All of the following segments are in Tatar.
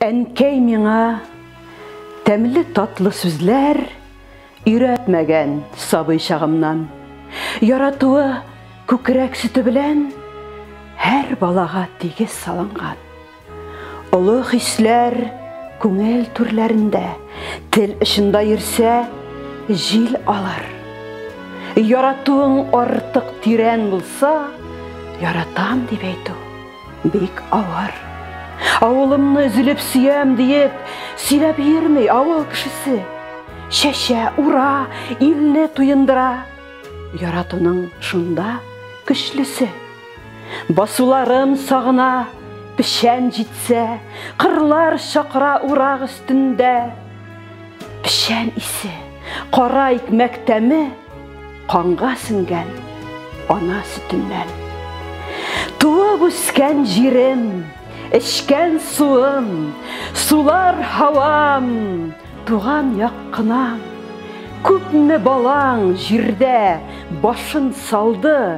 Әнкәй миңа тәмле татлы сүзләр өйрәтмәгән сабый чагымнан. Яратуы күкрәк сөте белән һәр балага тигез салынган. Олы хисләр күңел түрләрендә, тел очында йөрсә, җил алар. Яратуың артык тирән булса, яратам дип әйтү Бик авыр. Авылымны өзелеп сөям диеп, сөйләп йөрми авыл кешесе. Чәчә, ура, илне туендыра. Яратуның шунда көчлесе. Басуларым сагына, печән җитсә, кырлар чакыра урак өстендә. Печән исе, кара икмәк тәме. Канга сеңгән ана сөтеннән. Туып үскән җирем, эчкән суым, сулар һавам, туган як кынам. Күпме балаң җирдә башын салды,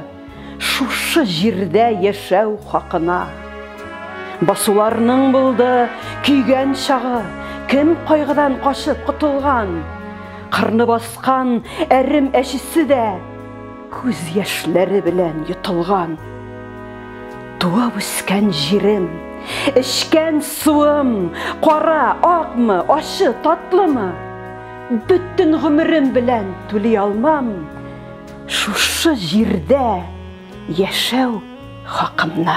Шушы җирдә яшәү хакына. Басуларның булды көйгән чагы, Кем кайгыдан качып котылган, Кырны баскан әрем әчесе дә Күз яшьләре белән йотылган. Туып үскән җирем, эчкән суым, Кара, акмы, ачы, татлымы, Бөтен гомерем белән түли алмам. Шушы җирдә яшәү хакымны.